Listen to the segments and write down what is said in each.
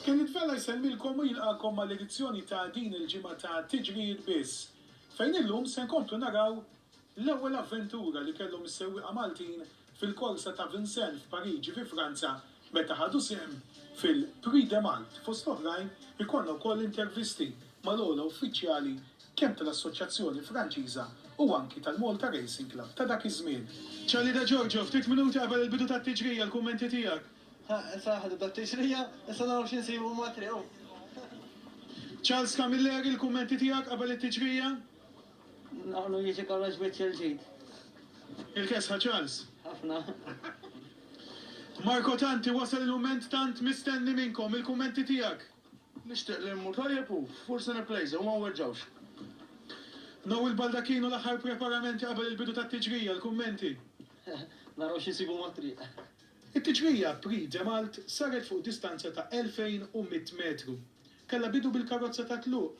Kien jitfela jsellmilkom u jilqagħkom mal-edizzjoni ta' din il-ġimgħa ta' Tiġrijiet Biss, fejn illum se nkomplu naraw L-ewwel avventura li kellhom is-sewwieqa Maltin fil-korsa ta' Vincennes f'Pariġi fi Franza meta ħadu sehem fil-Prix de Malte. Fost l-oħrajn ikollna wkoll intervisti mal-ogħla uffiċjali kemm tal-Assoċjazzjoni Franċiża u anki tal-Malta Racing Club ta' dak iż-żmien. Charlie De Giorgio, Ftit minuti qabel il-bidu tat-tiġrija, l-kummenti tiegħek? Ħa, issa aħna nibdew t-tiġrija, issa naraw xi nsibu mat-triq, hu. Charles Camilleri, l-kummenti tiegħek qabel it-tiġrija? Naqlu jiġi kollox wiċċ il-ġid. Il-kesħa Charles. Ħafna. Marco Tanti wasal il-mument tant mistenni minnkom, il-kummenti tiegħek. Nixtieq li mmur tajjeb u forsi nipplejża u ma nweġġgħux. Noel Baldacchino l-aħħar preparamenti qabel il-bidu tat-tiġrija, il-kummenti. Naraw x'insibu mat-triq. It-tiġrija Prix de Malte saret fuq distanza ta' 2,100 metru. Kellha bidu bil-karozza tat-tluq,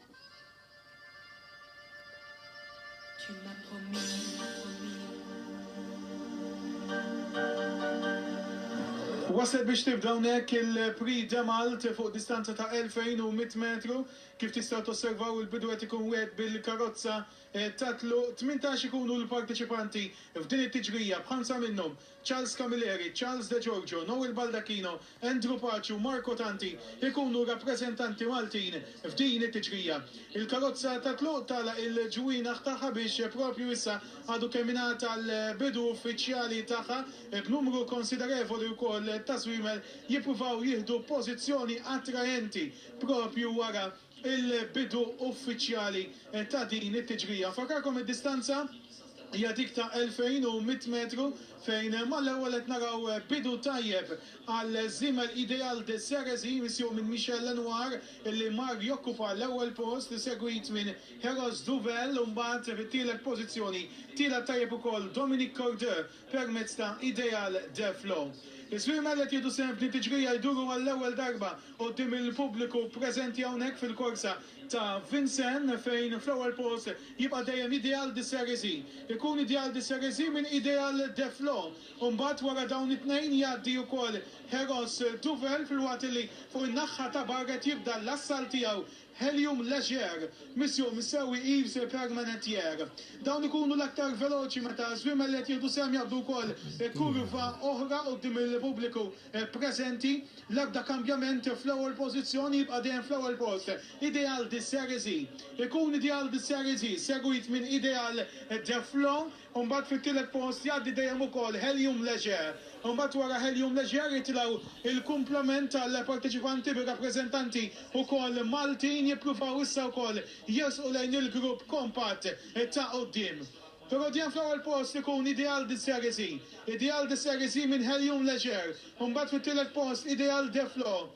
Waslet biex tibda hawnhekk il-Prix de Malte fuq distanza ta' 2100 metru. Kif tistgħu tosservaw il-bidu qed ikun wieħed bil-karozza ta' tluq. Tmintax ikunu l-parteċipanti f'din it-tiġrija b'ħamsa minnhom Charles Camilleri, Charles De Giorgio, Noel Baldacchino, Andrew Paciu, Marco Tanti jkunu rappreżentanti Maltin f'din it-tiġrija. Il-karozza tat-tluq tagħlaq il-ġwienaħ tagħha biex propju issa għadu kemm ingħata l-bidu uffiċjali tagħha b'numru konsiderevoli wkoll ta' żwiemel jippruvaw jieħdu pożizzjoni attraenti propju wara Il-bidu uffiċjali ta' din it-tiġrija, nfakkarkom id-distanza hija dik ta' 2,100 metru fejn mal-ewwel qed naraw bidu tajjeb għal żiemel Ideal de Cerisy misjuq minn Michel Lenoir li mar jokkupa l-ewwel post isegwit minn Heros Duvel u mbagħad fit-tielet pożizzjoni tila' tajjeb ukoll Dominique Cordeux permezz ta' Ideal Def Law. Iż-żwiemel qed jieħdu sehem f'din tiġrija jduru għall-ewwel darba quddiem il-pubbliku preżenti hawnhekk fil-korsa ta' Vincennes fejn fl-ewwel post jibqa' dejjem Ideal de Cerisy. Ikun Ideal de Cerisy minn Ideal Def Law u mbagħad wara dawn it-tnejn jgħaddi wkoll Heros Duvel filwaqt li fuq in-naħħa ta' barra qed jibda l-assalt tiegħu Helium Leger, Mission Missewi Yves et Permanentier. Dawn ikunu l-aktar veloċi meta żwiemel li qed jieħdu sehem jaqbdu wkoll kurva oħra quddiem il-pubbliku preżenti. L-ebda kambjament fl-ewwel pożizzjoni, jibqa' dejjem fl-ewwel post Ideal de Cerisy. Ikun Ideal de Cerisy segwit minn Ideal de Flo. u mbagħad fit-tielet post jgħaddi dejjem ukoll Helium Leger, u mbagħad wara Helium Leger jitilgħu l-kumplament tal-parteċipanti bir-rappreżentanti wkoll Maltin jippruvaw issa wkoll jersqu lejn il-grupp kompatt ta' quddiem. Rodien fl-ewwel post ikun Ideal de Cerisy, Ideal de Cerisy minn Helium Leger, u mbagħad fit-tielet post Ideal de Flo,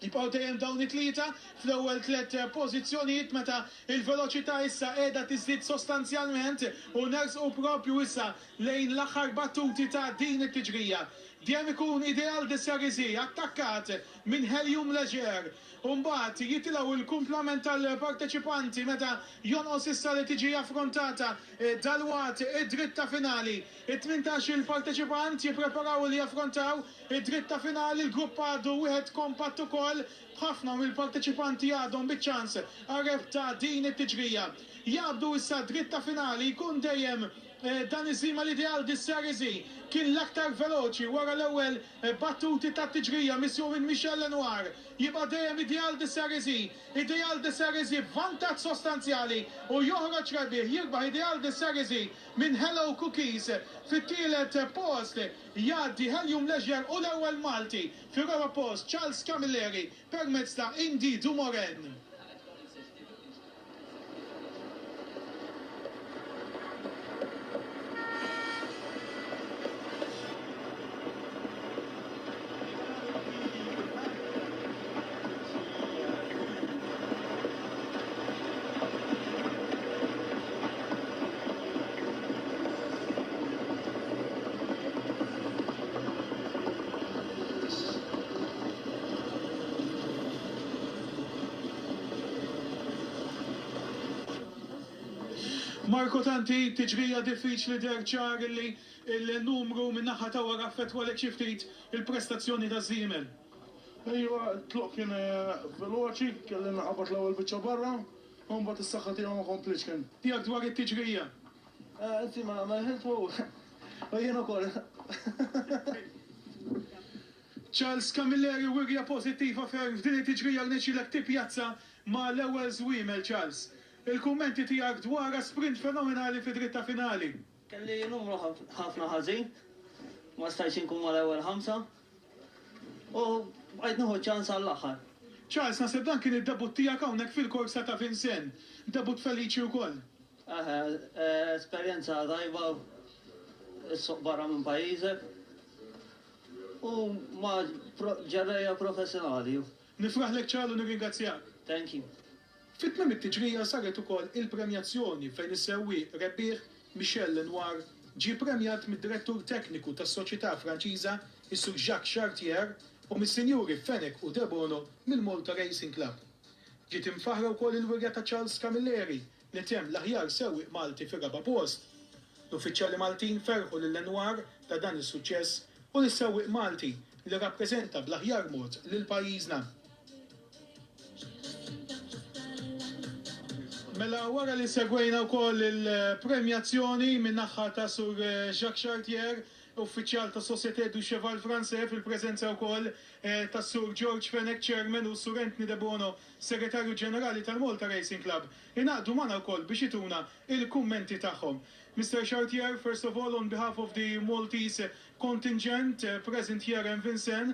Jibqgħu dejjem dawn it-tlieta fl-ewwel tliet pożizzjonijiet meta l-veloċità issa qiegħda tiżdied sostanzjalment u nersqu proprju issa lejn l-aħħar battuti ta' din it-tiġrija. Dejjem ikun Ideal de Cerisy attakkat minn Helium Leger u mbagħad jitilgħu l-kumplament tal-parteċipanti meta jonqos issa li tiġi affrontata dalwaqt id-dritta finali. It-tmintax-il parteċipant jippreparaw li jaffrontaw Id-dritt ta' finali, l-grupp għadu wieħed kompatt ukoll, b'ħafna mill-parteċipanti għadhom biċ-ċans għar-rebħ ta' din it-tiġrija. Jaqbdu issa d-dritt ta' finali jkun dejjem Dani Sima li ideal di Cerisy kien l-aktar veloċi wara l-ewwel battuti tat-tiġrija missju minn Michel Lenoir. Jibqa' dejjem Ideal di Cerisy. Ideal di Cerisy b'vantaġġ sostanzjali u joħroġ rebbieħ, jirbaħ Ideal di Cerisy minn Hello Cookies fit-tielet post. Jgħaddi Helium Leger u l-ewwel Malti fir-raba' post Charles Camilleri permezz ta' Indy Dumoulin. Marco Tanti, Tiġrija diffiċli deher ċar illi l-numru min-naħa ta' wara affettwalek xi ftit il-prestazzjoni taż-Żiemel. Iva, t-tluq kien veloċi, kelli naqabad l-ewwel biċċa barra, u mbagħad is-saħħa tiegħu ma komplitx kien. Tiegħek dwar it-tiġrija? Inti ma ma dħilt favur u jien ukoll. Charles Camilleri wirja pożittiva ferm f'din it-tiġrija rnexxielek tippjazza ma' l-ewwel żwiemel Charles. Il-kummenti tiegħek dwar sprint fenomenali fid-dritta finali. Kelli numru ħafna ħażin, ma stajtx inkun mal-ewwel ħamsa u bqajt nieħu ċ-ċans għall-aħħar. Charles, naħseb dan kien id-debutt tiegħek hawnhekk fil-korsa ta' Vincennes. Debutt feliċi wkoll. Eħe, esperjenza tajba s-suq barra minn pajjiżek u ma' ġerrejja professjonali. Nifraħlek Charles u nirringrazzjak. Thank you. Fi tmiem it-tiġrija saret ukoll il-premjazzjoni fejn is-sewwieq rebbieħ Michel Lenoir ġie premjat mid-Direttur Tekniku tas-Soċjetà Franċiża, is-Sur Jacques Chartier, u mis-Sinjuri Fenech u Debono mill-Malta Racing Club. Ġiet imfaħħra wkoll il-wirja ta' Charles Camilleri li temm l-aħjar sewwieq Malti fir-raba' post. L-uffiċjali Maltin ferħu lil Lenoir ta' dan is-suċċess u lis-sewwieq Malti li rappreżenta bl-aħjar mod lil pajjiżna. Mela wara li segwejna wkoll il-premjazzjoni min-naħħa ta' Sur Jacques Chartier, Uffiċjal tas-Société du Cheval Français fil-preżenza wkoll tas-Sur George Fenech, Chairman, u Sur Anthony Debono, Segretarju Ġenerali tal-Malta Racing Club, ingħaqdu magħna wkoll biex ituna l-kummenti tagħhom. Mister Chartier, first of all on behalf of the Maltese contingent present here in Vincennes,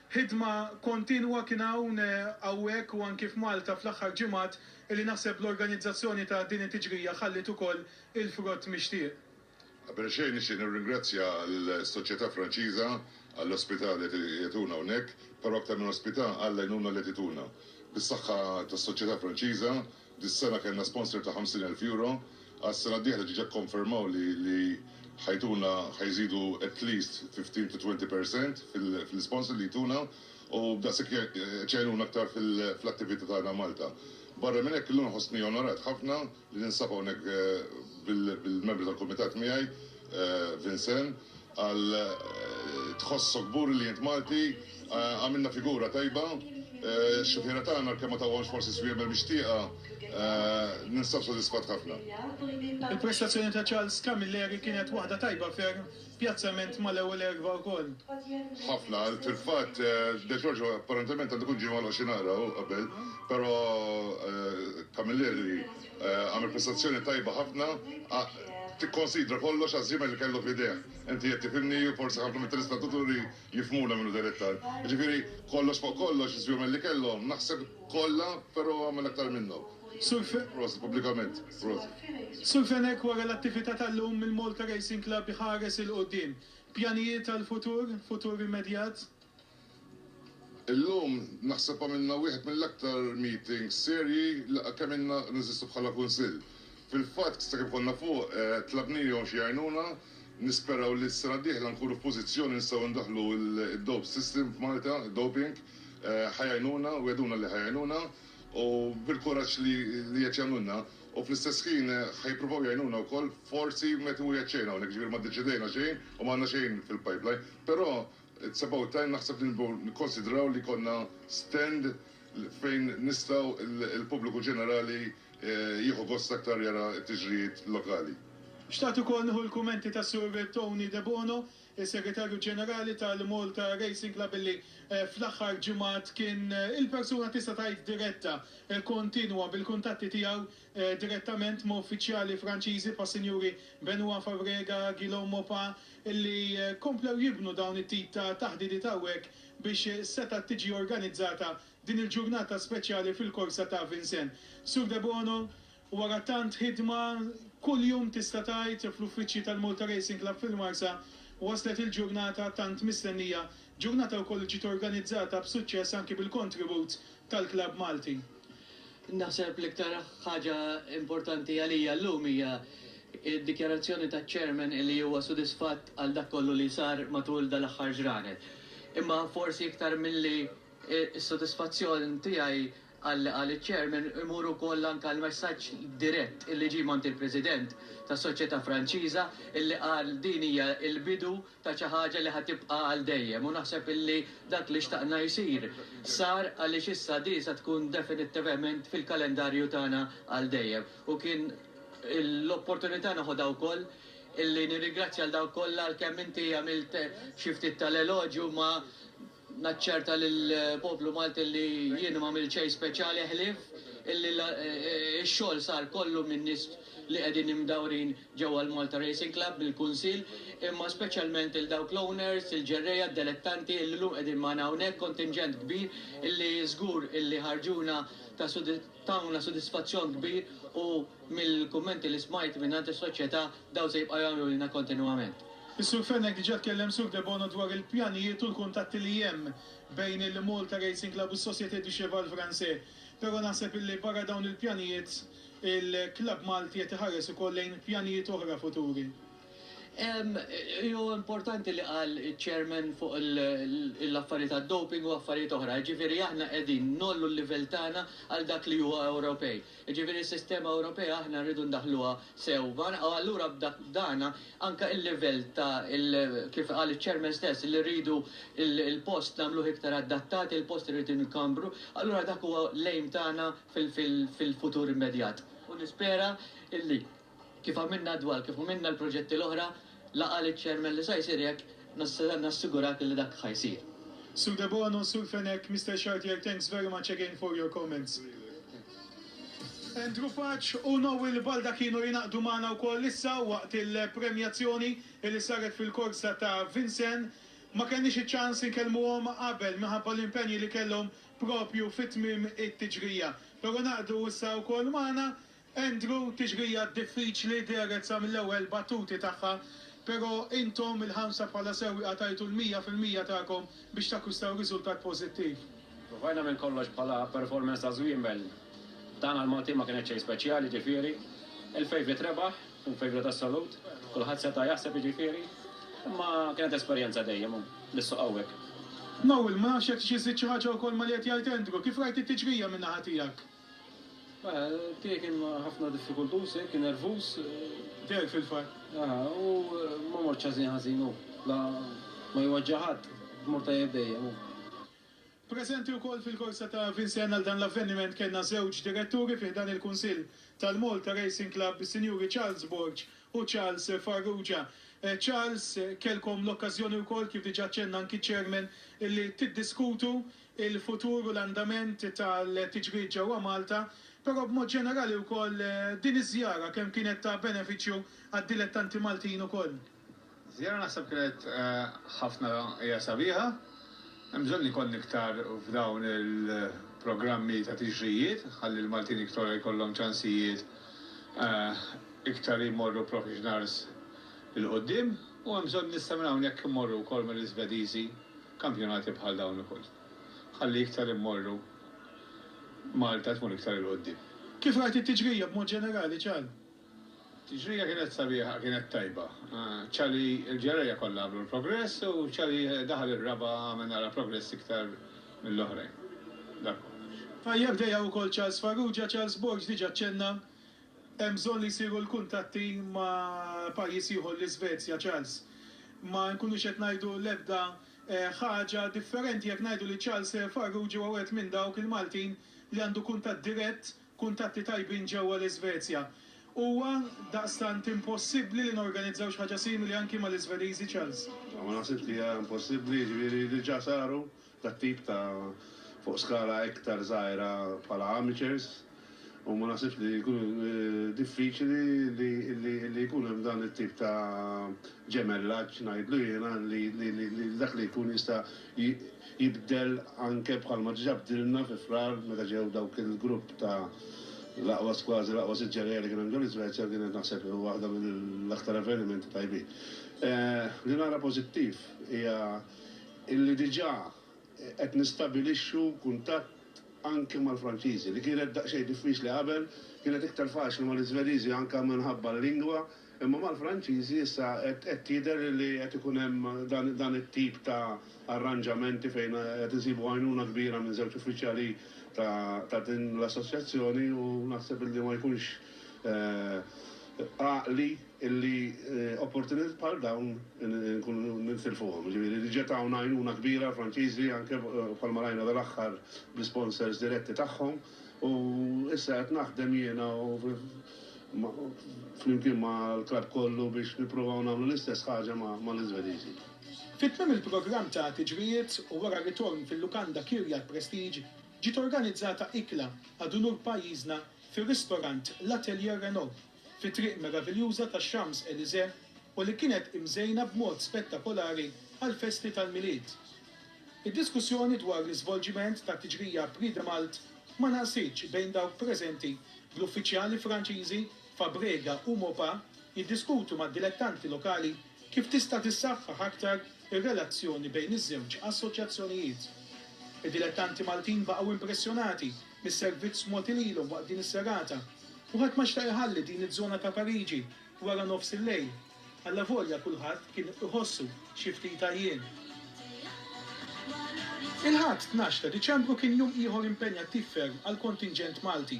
Ħidma kontinwa kien hawn, hawnhekk u anki f'Malta fl-aħħar ġimgħat illi naħseb l-organizzazzjoni ta' din it-tiġrija ħalliet ukoll il-frott mixtieq. Qabel xejn nixtieq nirringrazzja lis-Soċjetà Franċiża għall-ospità li qed jagħtuna hawnhekk, però aktar minn ospità għall-għajnuna li qed jtuna. Bis-saħħa tas-Soċjetà Franċiża Dis-sena kellna sponsor ta' 50 elf euro, għas-sena d-dieħla diġà kkonfermaw li li ħa jtuna ħa jżidu at least 15 to 20 per cent fil-sponsor li jtuna u b'daqshekk qed jgħinuna aktar fl-attività tagħna Malta. Barra minn hekk illum nħossni onorat ħafna li ninsab hawnhekk bil-membri tal-kumitat miegħi, Vincent qal Tħossok kburi li int Malti, għamilna figura tajba, x-xufiera tagħna għalkemm ma tawhomx forsi swiemer mixtieqa, ninsab sodisfatt ħafna. Il-prestazzjoni ta' Charles Camilleri kienet waħda tajba ferm, pjazzament mal-ewwel erbgħa wkoll. Ħafna, fil-fatt De Giorgio apparentement għandu jkun ġie magħluq xi naqra qabel, però Camilleri, Għamel prestazzjoni tajba ħafna, tikkonsidra kollox għaż-żiemel li kellu f'idejh. Inti qed tifhimni u forsi ħafna mit-telespetaturi jifhmuna minn hu dejr iktar. Jiġifieri, kollox fuq kollox, iż-żwiemel li kellhom, naħseb kollha, però hu għamel aktar minnhom. Prosit pubblikament. Prosit. Sur Fenech, wara l-attività tal-lum mill-Malta Racing Club iħares 'il quddiem. Pjanijiet għall-futur, futur immedjat? Illum naħseb għamilna wieħed mill-aktar meetings serji li kemm ilna neżistu bħala Kunsill. Fil-fatt, sakemm konna fuq, tlabnihom xi għajnuna. Nisperaw li s-sena d-dieħla nkunu f'pożizzjoni nistgħu ndaħħlu d-dope system f'Malta, id-doping. Ħa jgħinuna, wegħduna li ħa jgħinuna u bil-kuraġġ li qed jagħmlulna. U fl-istess ħin ħa jippruvaw jgħinuna wkoll forsi meta hu jgħid xejn hawnhekk, jiġifieri ma ddeċidejna xejn u m'għandna xejn fil-pipeline. Però It's about time naħseb li nibgħu nikkonsidraw li jkollna stand fejn nistgħu l-pubbliku ġenerali jieħu gost aktar jara t-tiġrijiet lokali. Xtaqt ukoll nieħu l-kummenti tas-Sur Tony Debono, is-Segretarju Ġenerali tal-Malta Racing Club illi fl-aħħar ġimgħat kien il-persuna tista' tgħid diretta kontinwa bil-kuntatti tiegħu direttament ma' uffiċjali Franċiżi bħas-Sinjuri Benoit Fabrega, Guillaume Maupas, illi komplew jibnu dawn it-tip ta' taħdidiet hawnhekk biex setgħet tiġi organizzata din il-ġurnata speċjali fil-korsa ta' Vincennes. Sur Debono, wara tant ħidma, kuljum tista' tgħid, fl-uffiċċji tal-Malta Racing Club fil-Marsa, waslet il-ġurnata tant mistennija, ġurnata wkoll li ġiet organizzata b'suċċess anki bil-kontribut tal-klabb Malti. Naħseb l-iktar ħaġa importanti għalija llum hija d-dikjarazzjoni taċ-Chairman li huwa sodisfatt għal dak kollu li sar matul dal-aħħar ġranet. Imma forsi iktar milli s-sodisfazzjon tiegħi għal li qal iċ-Chairman imur ukoll anke għall-messaġġ dirett li ġie mingħand il-President tas-Soċjetà Franċiża li qal din hija l-bidu ta' xi ħaġa li ħa tibqa' għal dejjem u naħseb illi dak li xtaqna jsir sar għaliex issa din se tkun definittivement fil-kalendarju tagħna għal dejjem. U kien l-opportunità noħodha wkoll illi nirringrazzja lil dawk kollha għalkemm inti għamilt xi ftit tal-eloġju ma Naċċerta lill-poplu Malti li jien m'għamilt xejn speċjali ħlief illi x-xogħol sar kollu min-nies li qegħdin imdawrin ġewwa l-Malta Racing Club mill-Kunsill imma speċjalment lil dawk l-owners, il-ġerrejja, d-delettanti illi llum qegħdin magħna hawnhekk, kontinġent kbir illi żgur illi ħarġuna ta' tawna sodisfazzjon kbir u Mill-kummenti li smajt mingħand is-soċjetà, dawn se jibqgħu jagħmlulna kontinwament. Is-Sur Fenech diġà tkellem Sur Debono dwar il-pjanijiet u l-kuntatti li hemm bejn il-Malta Racing Club u s-Société du Cheval Français. Però naħseb illi barra dawn il-pjanijiet, il-klabb Malti qed iħares ukoll lejn pjanijiet oħra futuri. Hu importanti li qal iċ-Chairman fuq l-affarijiet tad-doping u affarijiet oħra. Jiġifieri aħna qegħdin ngħollu l-livell tagħna għal dak li huwa Ewropej. Jiġifieri s-sistema Ewropea aħna rridu ndaħħluha sewwa u allura b'dan anke l-livell ta' kif qal iċ-Chairman stess li rridu l-post nagħmluh iktar adattat, il-post irid inkabbru, allura dak huwa l-aim tagħna fil-futur immedjat u nispera li Kif għamilna għad-dwal, kif għamilna l-proġetti l-oħra, la qal iċ-Chairman li sa jsir jekk, nista' nassigurak li dak ħa jsir. Sur Debono, Sur Fenech, Mister Chartier thanks very much again for your comments. Andrew Paċ u Noel Balda kienu jingħaqdu magħna wkoll issa waqt il-premjazzjoni li saret fil-korsa ta' Vincennes. Ma kellniex iċ-ċans inkellmuhom qabel minħabba l-impenji li kellhom propju fi tmiem it-tiġrija. Però ngħaqdu issa wkoll magħna Andrew, Tixrija diffiċli, dehret sa mill-ewwel battuti tagħha, pero' intom il-ħamsa bħala sewwieqa tajtu l-mija fil-mija tagħkom biex takkwistaw riżultat pożittiv. Provajna minn kollox bħala performance ta' Żwiemel, dan għall-Maltin ma kienet xejn speċjali, jiġifieri, il-favourite rebaħ, tkun favourite assolut, kulħadd seta' jaħseb jiġifieri, imma kienet esperjenza dejjem l-issuq hawnhekk. Noel, ma nafx jekk tixtieq żżid xi ħaġa wkoll ma' li qed jgħid Andrew, kif rajt it-tiġrija min-naħa tiegħek? Mela, tiegħi kien ħafna diffikultuż, eh, kien nervuż. Tiegħek fil-fatt. Aha, u ma mortx ħażin ħażin hu. La ma jwaġġa' ħadd, mur tajjeb dejjem hu. Preżenti wkoll fil-korsa ta' Vincennes għal dan l-avveniment kellna żewġ diretturi fi ħdan il-Kunsill tal-Malta Racing Club, is-Sinjuri Charles Borg u Charles Farrugia. Charles, kellkom l-okkażjoni wkoll, kif diġà ċċenna anki ċ-Chairman, illi tiddiskutu il-futur u l-andament tal-tiġrid ġewwa Malta, però b'mod ġenerali wkoll din iż-żjara kemm kienet ta' benefiċċju għad-dilettanti Maltin ukoll. Żjara naħseb kienet ħafna hija sabiħa, hemm bżonn li jkollna iktar f'dawn il-programmi ta' tiġrijiet ħalli l-Maltin iktor jkollhom ċansijiet iktar jmorru professionals 'il quddiem u hemm bżonn issa minn hawn jekk immorru wkoll mal-Iżvediżi. Kampjonati bħal dawn ukoll ħalli iktar immorru Malta tmur iktar 'il quddiem. Kif rajt it-tiġrija b'mod ġenerali, Cal? Tiġrija kienet sabiħa, kienet tajba. Ċar li l-ġerrejja kollha għamlu l-progress u ċar li daħal ir-raba' għamel naqra progress iktar mill-oħrajn. Dak kollox. Tajjeb, dejja wkoll Charles Farrugia. Charles Borg diġà ċċenna Hemm bżonn li jsiru l-kuntatti ma' pajjiż ieħor, l-Isvezja, Charles. Ma nkunux qed ngħidu l-ebda ħaġa differenti jekk ngħidu li Charles Farrugia huwa wieħed minn dawk il-Maltin li għandu kuntatt dirett, kuntatti tajbin ġewwa l-Isvezja. Huwa daqstant impossibbli li norganizzaw xi ħaġa simili anki mal-Isvediżi, Charles. Ma naħsibx li hija impossibbli, jiġifieri diġà saru tat-tip ta' fuq skala iktar żgħira bħala amateurs u ma naħsibx li jkun diffiċli li jkun hemm dan it-tip ta' ġemellaġġ ngħidlu jiena li dak li jkun jista' jibdel anke bħalma diġà bdilna fi Frar meta ġew dawk il-grupp ta' l-aqwa kważi l-aqwa sitt ġerejja li kien hemm ġol-Iżvezja kienet naħseb waħda mill-aktar avvenimenti tajbin. Li nara pożittiv hija illi diġà qed nistabilixxu kuntatt anke mal-Franċiżi, li kienet daqsxejn diffiċli qabel, kienet iktar faċli mal-Iżveriżi anke minħabba l-lingwa, imma mal-Franċiżi issa qed jidher li qed ikun hemm dan it-tip ta' arranġamenti fejn qed insibu għajnuna kbira minn żewġ uffiċjali ta' din l-assoċjazzjoni u naħseb illi ma jkunx għaqli illi opportunitajiet bħal dawn inkunu nintilfuhom. Jiġifieri li ġiet hawn għajnuna kbira għall-Franċiżi anke bħalma rajna dal-aħħar bl-isponsors diretti tagħhom u issa qed naħdem jiena u flimkien mal-klabb kollu biex nippruvaw nagħmlu l-istess ħaġa mal-Iżvediżi. Fi tmiem il-programm ta' tiġrijiet u wara r-ritorn fil-lukanda Kirjat Prestige ġiet organizzata ikla għad unur pajjiżna fir-ristorant L'Atelier Renault, fi Triq Meraviljuża tax-Champs-Elysées u li kienet imżejna b'mod spettakolari għall-festi tal-Milied. Id-diskussjoni dwar l-iżvolġiment tat-tiġrija Prix de Malte ma naqsitx bejn dawk preżenti, bl-uffiċjali Franċiżi, Fabrega u Maupas jiddiskutu mad-dilettanti lokali, Kif tista' tissaħħaħ aktar ir-relazzjoni bejn iż-żewġ assoċjazzjonijiet? Id-dilettanti Maltin baqgħu impressjonati mis-servizz mogħti lilhom waqt din is-serata u ħadd ma xtaq iħalli din iż-żona ta' Pariġi wara nofs il-lejl, allavolja kulħadd kien iħossu xi ftit għajjien. Il-Ħadd, tnax ta' Diċembru kien jum ieħor impenjattiv ferm għall-kontinġent Malti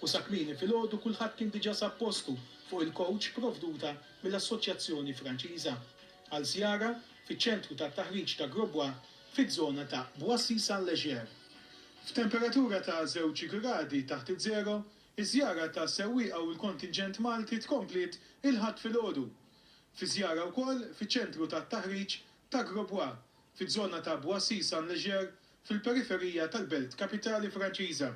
u sa kmieni filgħodu kulħadd kien diġà sab postu fuq il-kowċ provduta mill-Assoċjazzjoni Franċiża għal żjara fiċ-ċentru tat-taħriġ ta' Grosbois fiż-żona ta' Boissy-Saint-Léger. F'temperatura ta' żewġ gradi taħt iż-żero, iż-żjara ta' sewwieqa u l-kontinġent Malti tkompliet il-Ħadd filgħodu. Fi żjara wkoll fiċ-ċentru tat-taħriġ ta' Grosbois fiż-żona ta' Boissy-Saint-Léger fil-periferija tal-belt kapitali Franċiża,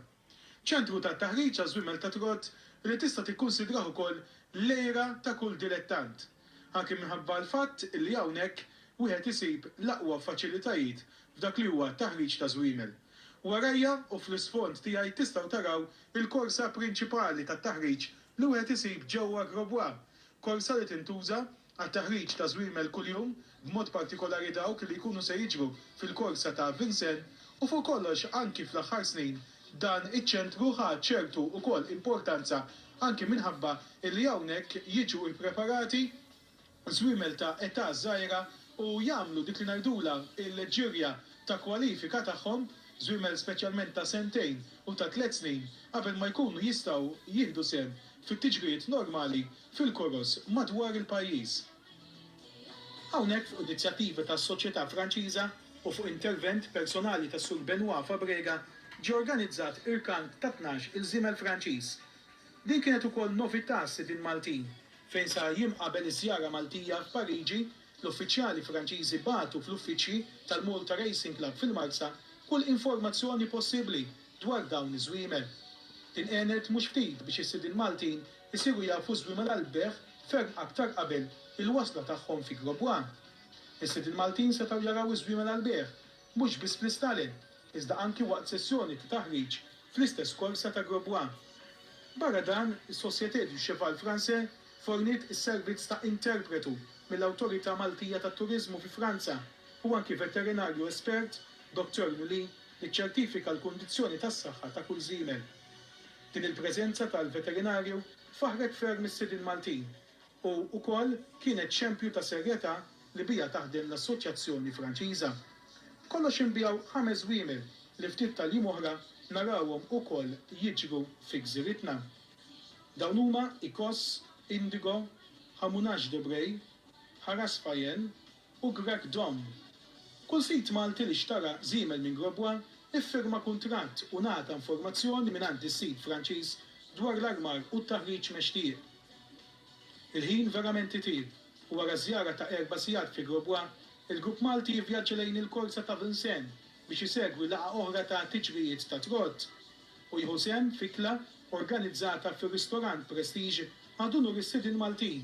Ċentru ta' taħriġ għaż-żwiemel ta' trott li tista' tikkunsidrah ukoll l-għira ta' kull dilettant, anki minħabba l-fatt li hawnhekk wieħed isib l-aqwa faċilitajiet f'dak li huwa t-taħriġ ta' żwiemel. Warajja u fl-isfond tiegħi tistgħu taraw il-korsa prinċipali tat-taħriġ li wieħed isib ġewwa Grosbois, korsa li tintuża għat-taħriġ ta' żwiemel kuljum, b'mod partikolari dawk li jkunu se jiġru fil-korsa ta' Vincennes, u fuq kollox anki fl-aħħar snin dan iċ-ċentru ħa ċertu ukoll importanza anki minħabba li hawnhekk jiġu ippreparati żwiemel ta' età żgħira u jagħmlu dik li ngħidulha l-ġirja ta' kwalifika tagħhom, żwiemel speċjalment ta' sentejn u ta' tliet snin qabel ma jkunu jistgħu jieħdu sehem fit-tiġrijiet normali fil-koroż madwar il-pajjiż. Hawnhekk fuq inizjattiva tas-Soċjetà Franċiża u fuq intervent personali tas-Sur Benoit Fabrega ġie organizzat irkant ta' tnax il żiemel Franċiż. Din kienet ukoll novità għas-sidien Maltin. Fejn sa jiem qabel iż-żjara Maltija f'Pariġi, l-uffiċjali Franċiżi bagħtu fl-uffiċċji tal-Malta Racing Club fil-Marsa kull informazzjoni possibbli dwar dawn iż-żwiemel. Din għenet mhux ftit biex is-sidien Maltin isiru jafu żwi mal-Albert ferm aktar qabel il-wasla tagħhom fi Grob One. Is-sid il-Maltin setgħu jaraw iż-żwi mal-Albert mhux biss fl-Istalen iżda anki waqt sessjoni ta' taħriġ fl-istess korsa ta' Grob One. Barra dan, is-Société du Cheval Français forniet is-servizz ta' interpretu mill-Awtorità Maltija tat-Turiżmu fi Franza u anki veterinarju espert, Docteur Nuli, li ċċertifika l-kundizzjoni tas-saħħa ta' kull żiemel. Din il-preżenza tal-veterinarju faħħret ferm is-sidien Maltin u wkoll kienet xempju ta' serjetà li biha taħdem l-Assoċjazzjoni Franċiża. B'kollox inbiegħu ħames żwiemel li ftit tal-jiem oħra narawhom ukoll jiġru fi gżiritna. Dawn huma Icos, Indigo, Hamounage de Bray, Harasfayen, u Greg Domm. Kull sid Malti li xtara żiemel minn Grosbois iffirma kuntratt u ngħata informazzjoni mingħand is-sid Franċiż dwar l-armar u t-taħriġ mextieq. Il-ħin verament itieb u wara żjara ta' erba' sigħat fi Grosbois, il-grupp Malti jivvjaġġa lejn il-korsa ta' Vincennes biex isegwi laqgħa oħra ta' tiġrijiet ta' trott u jieħu sehem f'ikla organizzata fir-ristorant Prestige Adunur is-Sidien Maltin.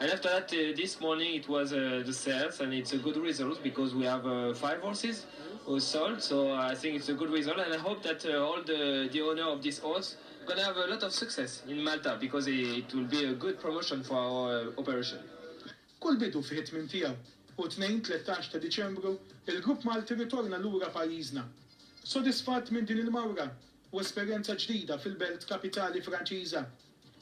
And after that uh, this morning it was uh, the sales and it's a good result because we have uh, five horses who sold so I think it's a good result and I hope that uh, all the, the owner of this horse gonna have a lot of success in Malta because it will be a good promotion for our uh, operation. Kull bidu fih it-tmiem tiegħu u tnejn 13 ta' Diċembru il-grupp Malti ritorna lura pajjiżna. Sodisfatt minn din il-mawra u esperjenza ġdida fil-belt kapitali Franċiża,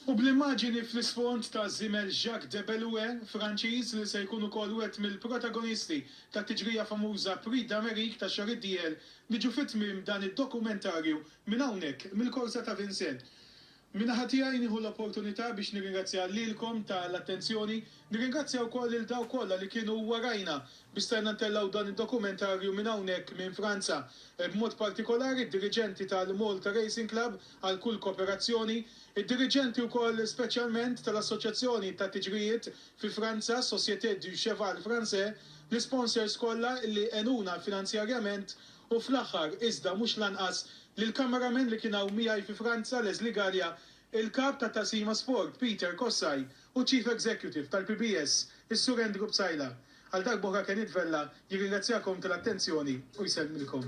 U bl-immaġini fl-isfond ta' żiemel Jacques Debellue, Franċiż, li se jkun ukoll wieħed mill-protagonisti tat-tiġrija famuża Prix d'Amérique tax-xahar id-dieħel, niġu fi tmiem dan id-dokumentarju minn hawnhekk, mill-korsa ta' Vincennes. Min-naħa tiegħi nieħu l-opportunità biex nirringrazzja lilkom tal-attenzjoni. Nirringrazzja wkoll lil dawk kollha li kienu warajna biex stajna ntellgħu dan id-dokumentarju minn hawnhekk minn Franza, b'mod partikolari d-diriġenti tal-Malta Racing Club għal kull koperazzjoni, id-diriġenti wkoll speċjalment tal-Assoċjazzjoni tat-Tiġrijiet fi Franza, Société du Cheval Français, l-isponsors kollha li għenuna finanzjarjament u fl-aħħar, iżda mhux l-anqas, lill-cameraman li kien hawn miegħi fi Franza, Leslie Galea, il-Kap tat-Taqsima Sport, Peter Kossaj, u ċ-Chief Executive tal-PBS, is-Sur Andrew Psaila, għal darba oħra Kenith Vella jirringrazzjakom tal-attenzjoni u jsellmilkom.